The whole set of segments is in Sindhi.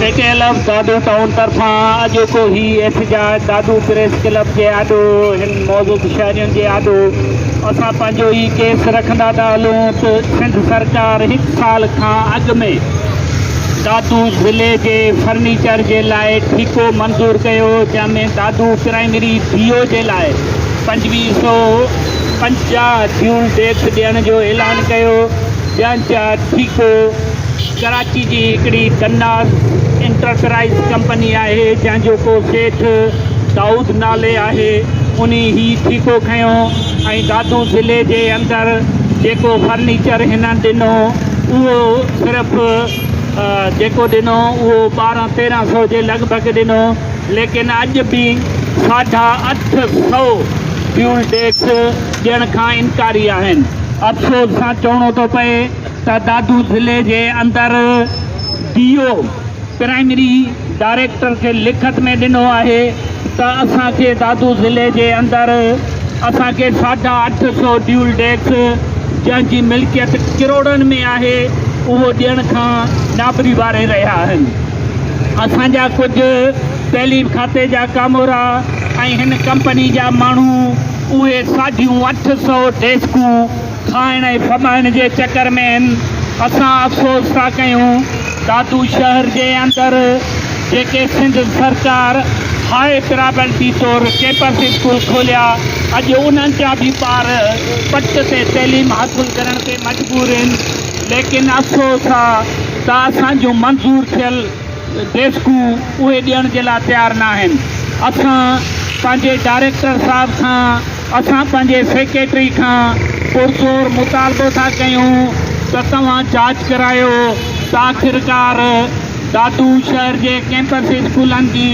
اي K L F Dadu town طرفان اڄوڪو هي احتجاج دادو پريس ڪلب جي آڏو هن موضوع تي شهرين جي آڏو اسان پنهنجو ئي ڪيس رکندا ٿا هلون ته سنڌ سرڪار هڪ سال کان اڳ ۾ دادو ضلعي جي فرنيچر جي لاء ٺيڪو منظور ڪيو جنهن ۾ دادو پرائمري بي او جي لاء پنجويهه سئو پنجاهه جيول ڊيڪس ڏيڻ جو اعلان ڪيو جنهن جا ٺيڪو ڪراچي جي هڪڙي قناز انٽرپرائيز ڪمپني آهي جنهن جو ڪو سيٺ دائود نالي آهي انهي هي ٺيڪو کنيو ۽ دادو ضلعي جي اندر جيڪو فرنيچر هنن ڏنو اهو صرف جيڪو ڏنو اهو ٻارهن تيرهن سو جي لڳ ڀڳ ڏنو ليڪن اڄ به ساڍا اٺ سو فيول ٽيڪس ڏيڻ کان انڪاري آهن افسوس سان چوڻو ٿو پئي ته دادو ضلعي جي اندر ڊي او پرائمري ڊائريڪٽر کي لکت ۾ ڏنو آهي ته اسان کي دادو ضلعي جي اندر اسان کي ساڍا اٺ سو ڊيول ڊيڪس جنهن جي ملڪيت ڪروڙن ۾ آهي اهو ڏيڻ کان نابري واري رهيا آهن اسان جا ڪجهه تعليم کاتي جا ڪامورا ۽ هن ڪمپني جا ماڻهو اهي ساڍيون اٺ سو ڊيسڪون کائڻ ۽ ڦٻائڻ جي چڪر ۾، اسان افسوس ٿا ڪيون دادو شهر جي اندر جيڪي سنڌ سرڪار هاء پرابلٽي طور ڪيمپس اسڪول کوليا، اڄ انهن جا به ٻار پٽ تي تعليم حاصل ڪرڻ تي مجبور هن، ليڪن افسوس آ ته اسان جون منظور ٿيل ڊيسڪون اهي ڏيڻ جي لا تيار ناهن، اسان پنهنجي ڊائريڪٽر صاحب کان. اسان پنهنجي سيڪريٽري کان پرزور مطالبو ٿا ڪيون ته توهان جاچ ڪرايو ته آخرڪار دادو شهر جي ڪيمپس اسڪولن جي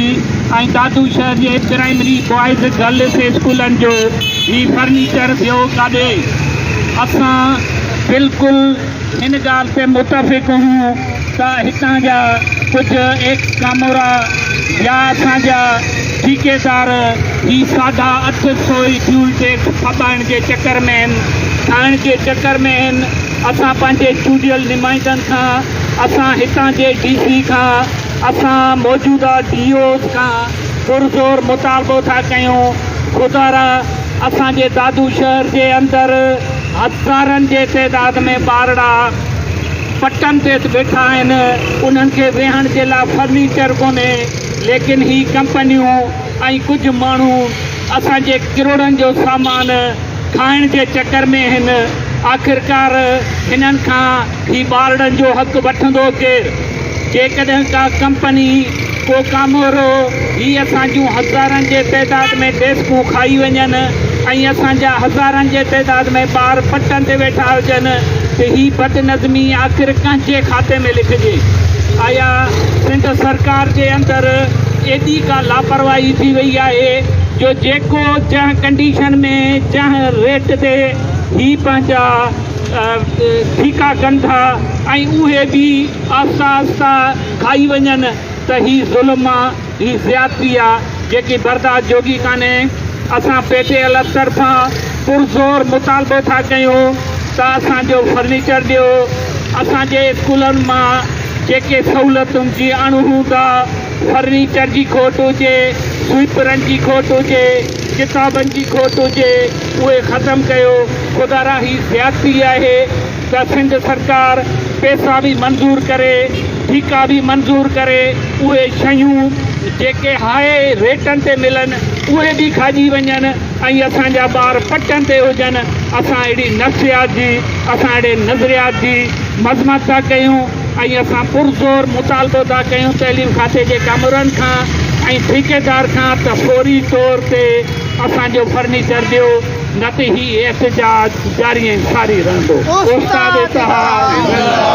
۽ دادو شهر جي پرائمري بوائز گرلس اسڪولن جو هي فرنيچر ويو ڪاڏي؟ اسان بلڪل ان ڳالهه تي متفق هيون ته هتان جا ڪجهه ايڪس ڪامورا يا اسان جا ٺيڪيدار هي ساڍا اٺ سو ئي فيول ٽيڪس ڦٻائڻ جي چڪر ۾ هن کائڻ جي چڪر ۾ هن اسان پنهنجي چونڊيل نمائندن کان اسان هتان جي ڊي سي کان اسان موجوده ڊي اوز کان پرزور مطالبو ٿا ڪيون خدارا اسان جي دادو شهر جي اندر هزارن جي تعداد ۾ ٻارڙا پٽن تي ويٺا آهن، انهن کي ويهڻ جي لاء فرنيچر ڪونهي، ليڪن هي ڪمپنيون ۽ ڪجهه ماڻهو اسان جي ڪروڙن جو سامان کائڻ جي چڪر ۾ آهن، آخرڪار هنن کان هي ٻارڙن جو حق وٺندو ڪير؟ جيڪڏهن ڪا ڪمپني، ڪو ڪامورو، هي اسان جون هزارن جي تعداد ۾ ڊيسڪون کائي وڃن ۽ اسان جا هزارن جي تعداد ۾ ٻار پٽن تي ويٺا هجن ته هي بدنظمي آخر ڪنهن جي کاتي ۾ لکجي؟ آيا سنڌ سرڪار جي اندر ايڏي ڪا لاپرواهي ٿي وئي آهي جو جيڪو جنهن ڪنڊيشن ۾ جنهن ريٽ تي هي پنهنجا ڦيڪا ڪن ٿا ۽ اهي به آهستي آهستي کائي وڃن ته هي ظلم آ، هي زيادتي آ، جيڪي برداشت جوڳي ڪانهي. اسان پي ٽي ايل ايف طرفان پرزور مطالبو ٿا ڪيون ته اسان جو فرنيچر ڏيو، اسان جي اسڪولن مان جيڪي سهولتن جي اڻهوند آ، فرنيچر جي کوٽ هجي، سوئيپرن جي کوٽ هجي، ڪتابن جي کوٽ هجي اهي ختم ڪيو. خدا را هي زيادتي آهي ته سنڌ سرڪار پيسا به منظور ڪري ٺيڪا به منظور ڪري اهي شيون جيڪي هاء ريٽن تي ملن اهي به کاڄي وڃن ۽ اسان جا ٻار پٽن تي هجن اسان اهڙي نفسيات جي اسان اهڙي نظريات جي مذمت ٿا ڪيون. ۽ اسان پرزور مطالبو ٿا ڪيون تعليم کاتي جي ڪامورن کان ۽ ٺيڪيدار کان ته فوري طور تي اسان جو فرنيچر ڏيو نه ته هي احتجاج جاري ۽ ساري رهندو استاد اتحاد